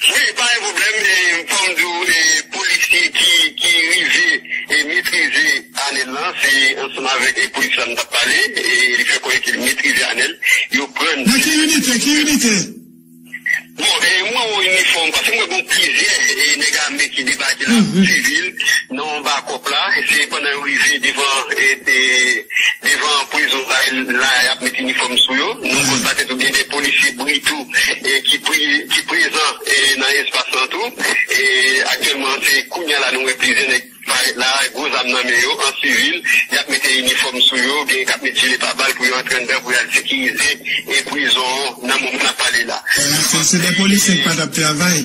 Wi pa gen pwoblèm e fòm di w e polisye ki ki rive e metrize Anel lan se ansanm avèk e polisye sa m tap pale e li fè konnen ke li metrize Anel yo prann Nan ki inite ki inite? Bon e m wè yon inifòm paske m wè gon plizyè e nèg ame ki debake la sivil nan anba kòp la se pandan yo rive devan e e devan prizon la la yap met inifòm sou yo nan kòt la tèt ou gen de polisye bri tou e ki ki prezan e nan espas lan tou e aktyèlman se kounya la nou wè plizyè nèg parèt la gwo zam nan men yo an sivil yap mete inifòm sou yo genyen kap met jile pa bal pou yo antre anndan pou yal sekirize e prizon nan moman nap pale la. Eske se de polisye ki pa tap travay?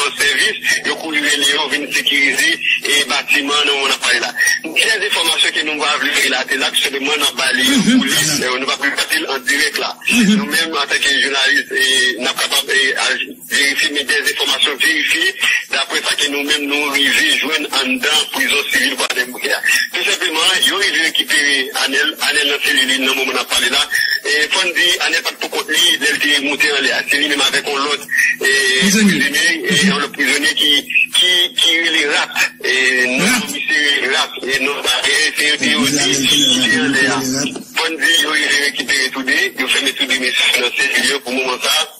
An sèvis, yo kouri rele yo vin sekirize e batiman an nou ap pale la. Gen dè enfòmasyon ke nou pa vle relate la, tou senpleman nap ba li yon polis, nou pap relate l an dirèk la. Nou menm an tan ke jounalis nap kapab al verifye men dè enfòmasyon verifye daprè sa ke nou menm nou rive jwenn anndan prizon sivil Kwadèboukè. Tou senpleman, yo rive rekipere Anel. Anel nan selil li nan moman n ap pale la. Fò n di, Anel pa t poukont li lè l te moute anlè a. Se li menm avèk yon lòt prizonye, yon lòt prizonye ki rele Rat. Non yon misye Rat. Se yo te di ki te anlè a. Fò n di, yo rive rekipere tou de. Yo fèmen tou de mesye yo nan selil yo pou moman sa a.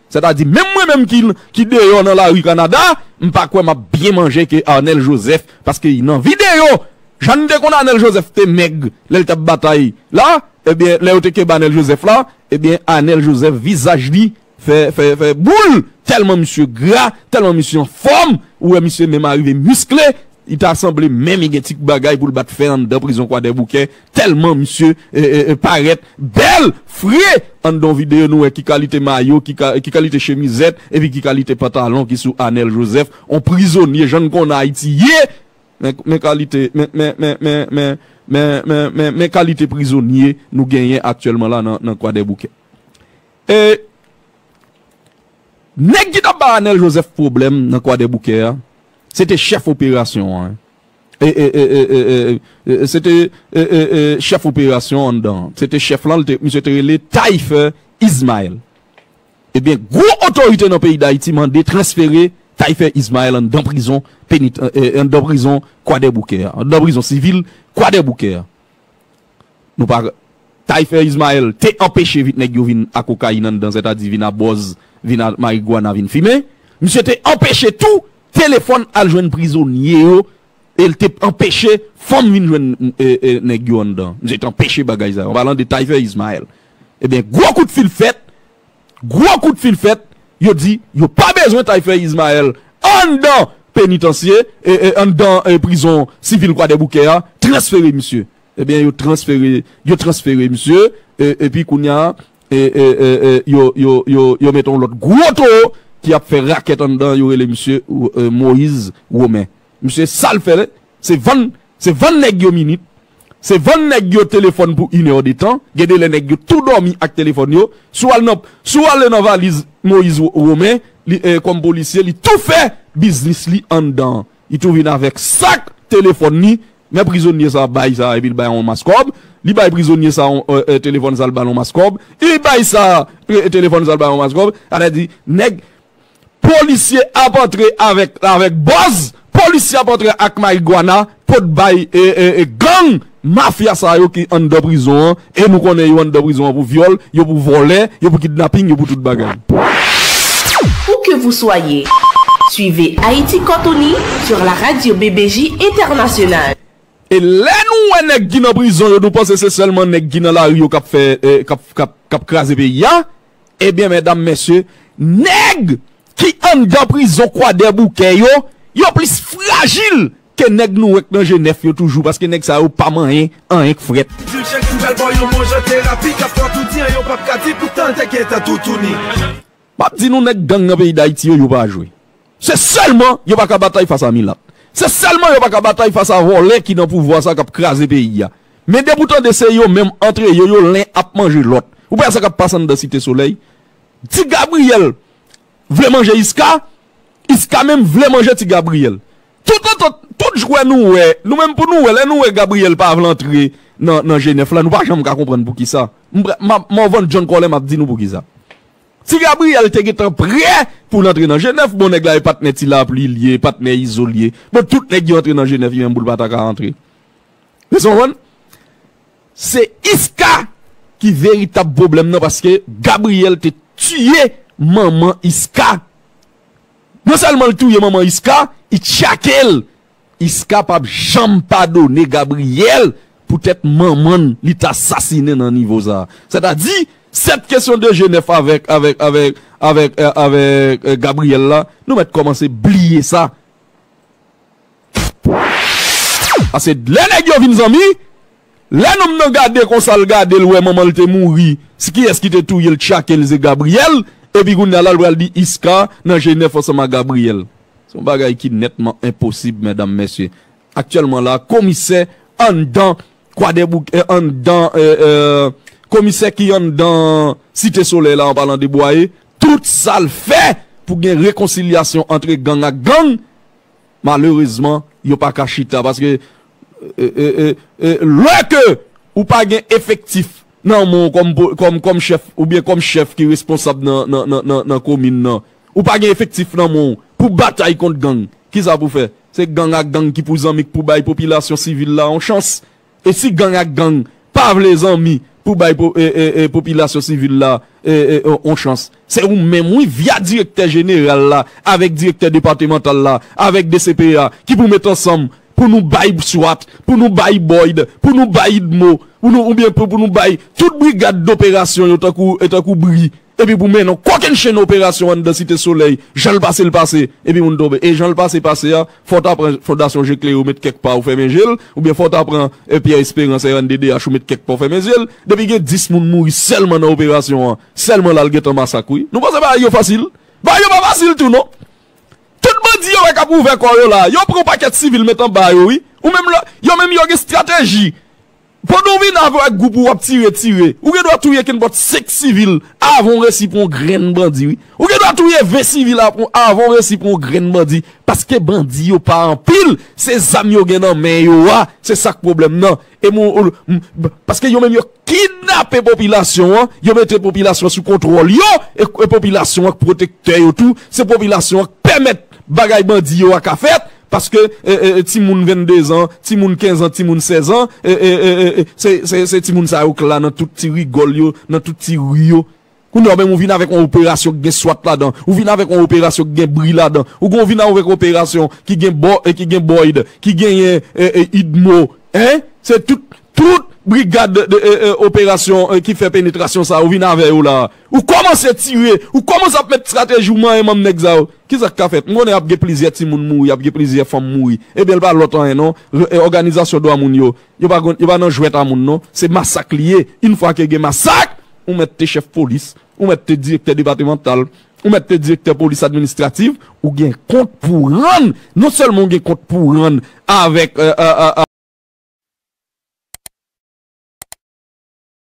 Sètadi menm mwen menm ki ki deyò nan lari Kanada, m pa kwè m ap byen manje ke Arnel Joseph paske nan videyo jan n te konn Arnel Joseph te mèg lè l t ap batay la ebyen lè yo te kenbe Arnel Joseph la ebyen Arnel Joseph vizaj li fè fè fè boul tèlman misye gra tèlman misye anfòm ou wè misye menm arive miskle li ta sanble menm li gen ti bagay pou l bat fè anndan prizon Kwadèboukè Telman misye paret bel fre ann don video nou wè ki kalite mayo ki kalite chemizet epi ki kalite pantalon ki sou anel joseph on prizonye jan n konnen ayiti ye men kalite men kalite prizonye nou genyen aktyelman la nan kwadèboukè e neg ki tap bay anel joseph pwoblem nan kwadèboukè a se te chef operasyon an. Se te chèf operasyon anndan an. Se te chèf lan, misye te rele Taillefer Ismaël. Ebyen, gwo otorite nan peyi Dayiti mande transfere Taillefer Ismaël anndan prizon anndan prizon Kwadèboukè a, anndan prizon sivil Kwadèboukè a. Nou pa ka. Taïfè Ismael te anpeche vit nèg yo vin a kokayin anndan sètadi vin a bòz, vin a marigwana, vin fimen. Misye te anpeche tou telefòn al jwenn prizonye yo e l te anpeche fanm vin jwenn nèg yo anndan. Misye te anpeche bagay sa yo. An palan de Taïfè Ismael. Ebyen gwo kout fil fèt Gwo kout fil fèt, yo di yo pa bezwen Taïfè Ismaël anndan penitansye, anndan prizon sivil Kwadèboukè a, transfere misye. Ebyen yo transfere, yo transfere misye, epi kounya yo mete yon lòt gwo towo ki ap fè rakèt anndan, yo rele misye Moïse Romain. Misye sa l fè Se vann se vann nèg yo minit, se vann nèg yo telefòn pou une heure de temps, gen de lè nèg yo tou dòmi ak telefòn yo, si w al nan si w ale nan valiz Moyiz Romen li kòm polisye li tou fè biznis li anndan an, li tou vin avèk sak telefòn li, men prizonye sa bay sa epi l bay on mas kòb, li bay prizonye sa on telefòn sa l ba l on mas kòb, li bay sa telefòn sa l ba l on mas kòb, sa vle di nèg. Polisye ap antre avèk bòz, polisye ap antre ak mariguana pou t bay gang mafya sa yo ki anndan prizon an e nou konnen yo anndan prizon an pou vyòl, yo pou vòlè, yo pou kidnaping, yo pou tout bagay. Où que vous soyez, suivez Haïti Cantoni sur la radio BBJ Internationale. E lè nou wè nèg ki nan prizon yo nou panse se sèlman nèg ki nan lari yo kap kraze peyi a? Ebyen medam mesye, nèg ki anndan prizon kwadèboukè yo, yo plis frajil ke nèg nou wè k nan jenèf yo toujou paske nèg sa yo pa manyen anyen k frèt. Dil chèk sou bèl bò yon manje terapi k ap fè w tou di an yo p ap ka di poutan l te gentan toutouni. M ap di nou nèg gang nan peyi dayiti yo, yo pa jwe. Se sèlman yo pa ka batay fas a milat. Se sèlman yo pa ka batay fas a vòlè ki nan pouvwa sa kap kraze peyi a. Men depi w tande se yo menm antre yo yo len ap manje lòt. Ou pa wè sa kap pase anndan site solèy. Ti Gabriel vle manje Isca, Isca menm vle manje ti Gabriel. Tout antant, tout jwè nou wè, nou menm pou nou wè, lè nou wè Gabriel pa vle antre nan G9 la nou pa janm ka konprann poukisa. Map Morvan John Kòlè map di nou poukisa. Ti Gabriel te gentan prè poul antre nan jenèf bon nèg la e patnè ti lapli li ye e patnè izo li ye bon tout nèg yo antre nan jenèf li menm poul pata ka antre èske w konprann se iska ki veritab pwoblèm nan paske Gabriel te tiye manman iska non sèlman l touye manman iska li tchake l Isca pap janm padone Gabriel pou tèt manman l li ta sasinen nan nivo sa. Sètadi, 7 kesyon de je nèf avèk avèk avèk avèk avèk Gabriel la, nou mèt kòmanse bliye sa. Paske lè nèg yo vin zanmi, Lè nonm nan gade konsa l gade l wè manman l te mouri se kiyès ki te touye l tchake l se Gabriyèl epi kounye a la l pral di Iska nan Jenèf ansanm ak Gabriyèl se yon bagay ki nètman enposib medam mesye aktyèlman la komisè anndan kwadèboukè anndan komisè ki anndan site solèy la an palan de bwaye tout sa l fè pou gen rekonsilyasyon antre gang ak gang malerezman yo paka chita paske Lè ke ou pa gen efektif nan men w kòm chèf oubyen kòm chèf ki responsab nan komin nan, ou pa gen efektif nan men w pou batay kont gang, kisa pou fè? Se gang ak gang ki pou zanmi k pou bay popilasyon sivil la yon chans. E si gang ak gang pa vle zanmi pou bay popilasyon sivil la yon chans. Se ou menm wi via direktè jeneral la avèk direktè depatemantal la avèk dcpya ki pou met ansanm pou nou bay bswat, pou nou bay boyd, pou nou bay idmo, oubyen pou nou bay tout brigad doperasyon yo tankou bri. Epi pou mennen yon kokennchenn operasyon anndan Site Solèy, jan l pase l pase, epi moun tonbe. E jan l pase pase a, fò w ta pran Fondasyon Je Klere ou met kèk pa ou fèmen je l, oubyen fò w ta pran Pierre Espérance, rnddh, ou met kèk pa w fèmen zye l. Depi gen 10 moun mouri sèlman nan operasyon an, sèlman la l gentan masak wi. Nou panse bagay yo fasil? Bagay yo pa fasil tou non! Tout bandi yo wè k ap ouvè kò yo la a, yo pran yon pakèt sivil met anba yo wi. Ou menm lè, yo menm yo gen estrateji. Pandan w vin avè ak gwoup ou wap tire tire ou gen dwa touye kenpòt 5 sivil avan w resi pran yon grenn bandi wi ou gen dwa touye 20 sivil avan w resi pran yon grenn bandi paske bandi yo pa anpil se zam yo gen nan men yo a se sak pwoblèm nan e mwen w m paske yo menm yo kidnape popilasyon an yo mete popilasyon an sou kontwòl yo e popilasyon an k pwotektè yo tou se popilasyon an k pèmèt bagay bandi yo a ka fèt Paske ti moun 22 zan, ti moun 15 zan, ti moun 16 zan, se ti moun sa yo k la nan tout ti rigòl yo, nan tout ti ri yo. Kounye a ou menm ou vin avèk yon operasyon k gen swat ladan, ou vin avèk yon operasyon k gen bri ladan, ou gen ou vin avèk yon operasyon ki gen bò e ki gen bòyd, ki genyen idmo, hein, se tout, tout brigad operasyon ki fè penetrasyon sa a ou vin avè yo la a. Ou kòmanse tire, ou kòmanse ap met strateji ou manyen manm nèg sa yo. Kisa k ka fèt? M konnen ap gen plizyè timoun mouri, ap gen plizyè fanm mouri. Ebyen l pa lòt anyen non. Òganizasyon dwa moun yo, yo pa konn, yo pa nan jwèt a moun non. Se masak li ye. Yn fwa ke gen masak, ou mèt te chèf polis, ou mèt te direktè depatemantal, ou mèt te direktè polis administrativ, ou gen kont pou w rann. Non sèlman ou gen kont pou w rann avèk.